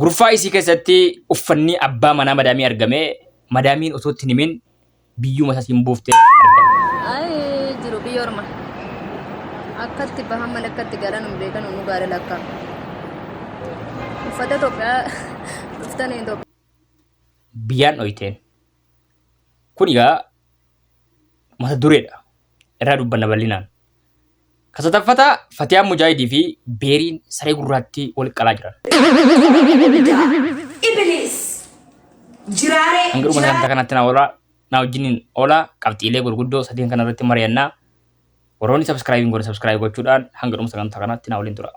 Gurfaa isii keessatti uffannii abbaa manaa madaamii argamee madaamiin osoo itti hin himin biyyuma sasiin buufte argame. Ayi jiru biyya orma. Akkatti bahan malee akkatti galan hin beekan nu gaara lakka. Uffata Itoophiyaa uffatan Itoophiyaa. Biyyaan dhoyteen. Kun egaa mata dureedha. Irraa dubbanna bal'inaan. Ka sadaffata Fatiyaan Mujaahidii fi Beeriin saree gurraattii wal qalaa jiran. Ibdaa. Ibiliis. Jiraaree. Hanga dhuma sagantaa kanaatti na oolaa na wajjiniin oolaa qabxiilee gurguddoo sadeen kana irratti mari'annaa warroonni sabskraayibiin godhe sabskraayib gochuudhaan hanga dhuma sagantaa kanaatti na waliin tura.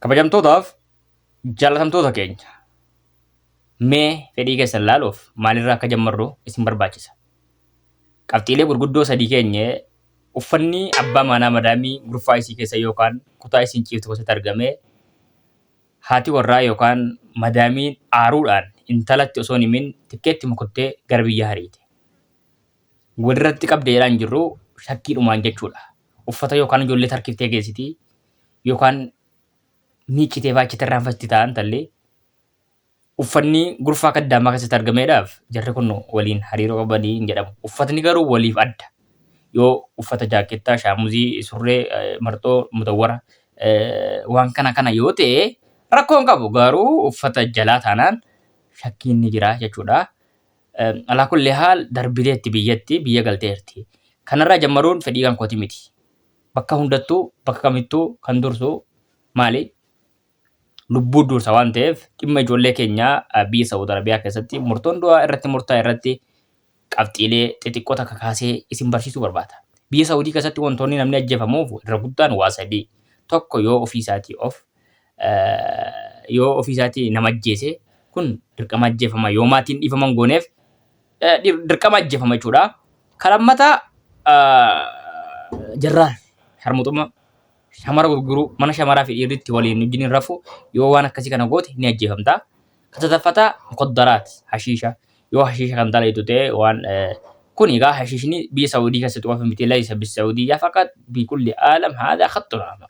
Kabajamtootaaf Jaalatamtoota keenya, mee fedhii keessan laaluuf maalirraa akka jammarru isin barbaachisa. Qabxiilee gurguddoo sadii keenye uffanni abbaa maanaa madaamii gurfaa isii keessa yookaan kutaa isiin ciiftu keessatti argamee haati warraa yookaan madaamiin aaruudhaan intalatti osoo hin himin tikkeettuma kuttee gara biyyaa hariite. Walirratti qabde jedhaa hin jirru shakkiidhumaan jechuudha. Uffata yookaan ijoollee tarkiftee geessiti yookaan miiccitee faa achitti irraanfatti taa'an tallee uffanni gurfaa kaddaamaa keessatti argameedhaaf jarri kun waliin hariiroo qabanii hin jedhamu. Uffatni garuu waliif adda. Yoo uffata jaakkeettaa, shaamuzii, surree, eh, marxoo, mutawwara eh, waan kana kana yoo ta'e rakkoo hin qabu garuu uffata jalaa taanaan shakkiin ni jira jechuudha. Eh, Alaa kulli haal darbideetti biyyatti biyya galteerti. Kanarraa jammaruun fedhii kan kooti miti. Bakka hundattuu, bakka kamittuu kan dursu maali? Lubbuu dursa waan ta'eef dhimma ijoollee keenyaa biyya Saawud Arabiyaa keessatti murtoon du'aa irratti murtaa'e irratti qabxiilee xixiqqoo takka kaasee isin barsiisuu barbaada. Biyya Saawudii keessatti wantoonni namni ajjeefamuuf irra guddaan waa sadii. Tokko yoo ofii isaatii of yoo ofii isaatii nama ajjeese kun dirqama ajjeefama. Yoo maatiin dhiifaman gooneef dirqama ajjeefama jechuudha. Kan lammataa jarraan sharmuxummaa shamara gurguruu mana shamaraa fi dhiirritti waliin wajjin hin rafu yoo waan akkasii kana goote ni ajjeefamta. Kan sadaffataa mukaddaraat hashiisha yoo hashiisha kan dalaytu ta'e waan kun egaa hashiishni biyya Saawudii keessatti qofa miti laysa bisaawudiyyaa faqat bikulli aalam haadaa khattun amar.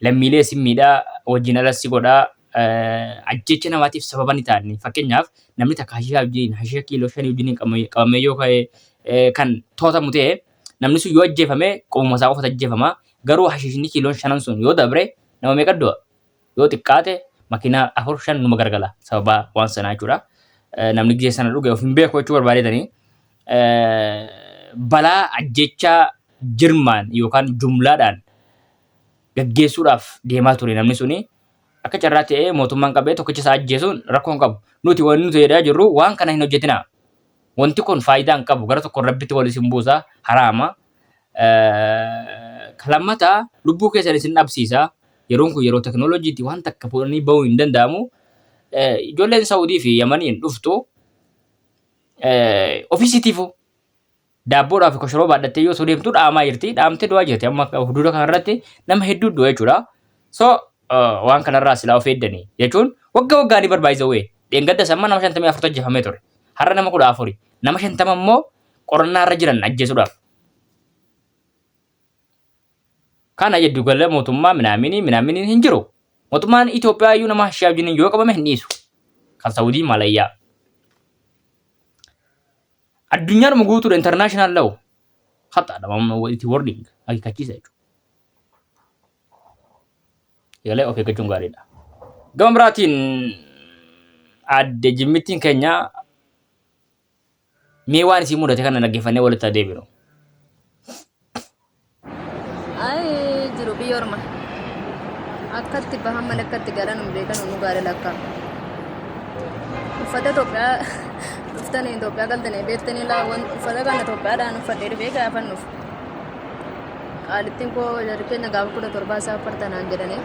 lammiilee sin miidha, wajjin alas si godha, ajjeecha namaatiif sababa ni ta'a inni. Fakkeenyaaf namni takka hashiishaa wajjiniin, hashiisha kiiloo shanii wajjiniin qabame- qabamee yoo ka'e eh, kan to'atamu ta'e, namni sun yoo ajjeefame qomuma isaa qofatu ajjeefama. Garuu hashiishni kiiloon shanan sun yoo dabre nama meeqa du'a? Yoo xiqqaate makiinaa afur shan numa gargala sababa waan sanaa jechuudha. Eh, Namni gizee sana dhuge of hin beeku jechuu barbaadeetanii. Eh, Balaa ajjeechaa jirmaan yookaan jumlaadhaan gaggeessuudhaaf deemaa ture namni suni. Akka carraa ta'ee mootummaan qabee tokkicha isaa ajjeesuun rakkoo hin qabu. Nuti wanni nuti jedhaa jirru waan kana hin hojjetinaa. Wanti kun faayidaa hin qabu. Gara tokkoon rabbitti wal isin buusa. Haraama. Ka lammataa lubbuu keessan isin dhabsiisa. Yeroon kun yeroo teknooloojiiti waan takka fuudhanii bahuu hin danda'amu. Ijoolleen Saawudii fi Yamaniin dhuftu ofiisiitiifuu Daabboodhaa fi koshoroo baadhattee yoo osoo deemtu dhaamaa jirti. Dhaamtee du'aa jirti. Amma huduuda kanarratti nama hedduu du'a jechuudha. So waan kanarraa silaa of eeddani jechuun wagga waggaa ni barbaachisa wee. Dheengaddas amma nama shantamii afurtu ajjeefamee ture. Har'a nama kudha afuri. Nama shantama immoo qorannaa irra jiran ajjeesuudhaaf. Kana jedhu gala mootummaa minaaminii minaaminiin hin jiru. Mootummaan Itoophiyaa iyyuu nama shee wajjin yoo qabame hin dhiisu. Kan Saawudii Malayyaa. Addunyaadhuma guutuudha international law khaxaadha mamma walitti wording akeekkachiisa jechuudha. Egalee of eeggachuun gaariidha. Gama biraatiin aadde jimmittiin keenya mee waan isii mudate kana dhaggeeffannee walitti adeeminu. Ay jiru biyya orma. Akkatti bahaman akkatti galan hin beekan nu gaale lakka. Uffata Itoophiyaa dhuftanii Itoophiyaa galtanii beektanii laawwan uffata kana Itoophiyaadhaan uffadhee dhufee gaafan dhufu. Qaalittiin koo jarri keenya gaafa kudha torbaa isaa affartanaan jedhanii.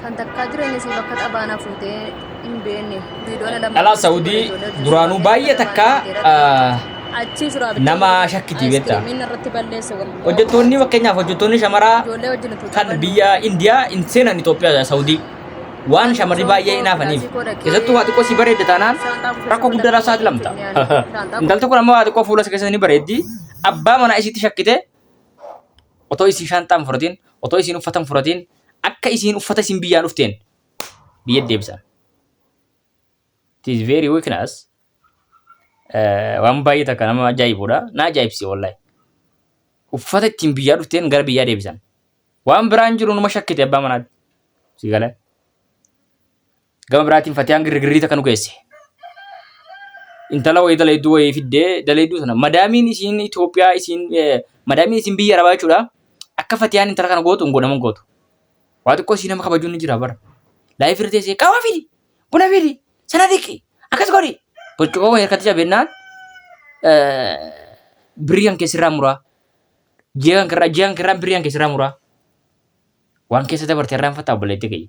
Kan takkaa jireenya isii bakka xabaana fuutee hin beekne. Viidiyoon alammaa. Dhalaa Saudii duraanuu baay'ee takka Achii suraa bitee. nama shakkiti beektaa. Ayiskiriimiin irratti balleesse walli. Hojjettoonni fakkeenyaaf hojjettoonni shamaraa Ijoollee wajjin utuu kan taphannu. biyya Indiyaa hin seenan Itoophiyaa Saudii waan shamarri baay'ee hinaafaniif keessattuu waa xiqqoo si bareedde taanaan rakkoo guddaadhaaf saaxilamta. Intalti kun ammoo waa xiqqoo fuula isa keessa ni bareeddi. Abbaa manaa isiitti shakkite otoo isiin shaanxaa hin fudhatiin otoo isiin uffata hin fudhatiin akka isiin uffata isin biyyaa dhufteen biyya deebisan. It is very weakness. Waan baay'ee takka nama ajaa'ibudha. Na ajaa'ibsi wallahi. Uffata ittiin biyyaa dhufteen gara biyyaa deebisan. Waan biraan jiru numa shakkite abbaa manaatti. Si galee. Gama biraatiin Fatiyaan girgirrii takka nu geesse. Intala wayii dalayduu wayii fiddee dalayduu sana madaamiin isiin Itoophiyaa isiin madaamiin isiin biyya arabaa jechuudha. Akka Fatiyaan intala kana gootu hin godhaman gootu. Waa xiqqoo isii nama kabajuun ni jira bara. Laayif irra teessee qaama fidi buna fidi sana dhiqi akkas godhi. Burcuqoo wayii harkatti cabennaan birrii kan keessirraa muraa. Ji'a kan kirraa ji'a kan kirraa birrii kan keessirraa muraa. Waan keessa dabarte irraa hin fattaa obboleetti kiyya.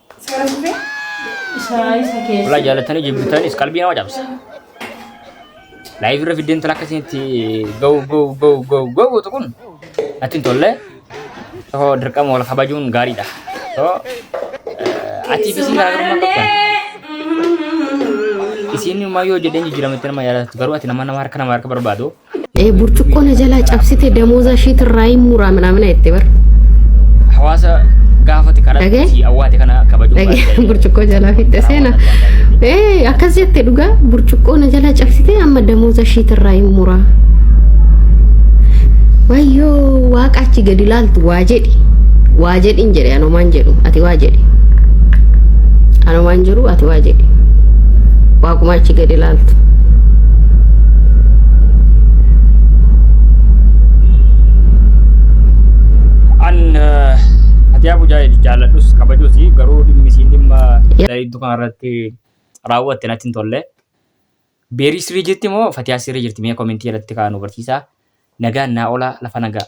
Walaa jaalatanii jibbitanis qalbii nama cabsa. Laayif irra fiddeen tala akkasitti gahu gahu gahu gahu gahu gootu kun natti hin tolle. Yoo dirqama wal kabajuun gaariidha. Yoo ati bisii garaagarummaa qabdan. Isiin immoo yoo jedheen jijjiirama itti nama yaadatu garuu ati nama nama harka nama harka barbaadu. Eh, burcuqqoo na jalaa cabsite damooza ishiit irraa hin muraa minaamina jette bar. hawaasa gaafate Dhagee? kadhate si awwaate kana kabajuu Dhagee, waan ta'eef. burcuqqoo jalaa fixxe seena. Eh, akkas jette dhugaa burcuqqoo na jalaa cabsite amma damooza ishiit irraa hin muraa. Wayyoo waaqa achi gadi ilaaltu waa Waa jedhi. Waa jedhin jedhe anomaan jedhu ati waa jedhi. Anomaan jiru ati waa jedhi. Waaquma achi gadi ilaaltu. An eh, ati yaa bujaa jaalladhus kabajus garuu dhimmi isiin dhimma Yaa- dariiddu kanarratti raawwatte natti hin tolle. Berii sirrii jirti moo fatiyaa sirrii jirti mee komentii jalatti kaa nu barsiisaa nagaan naa olaa lafa nagaa.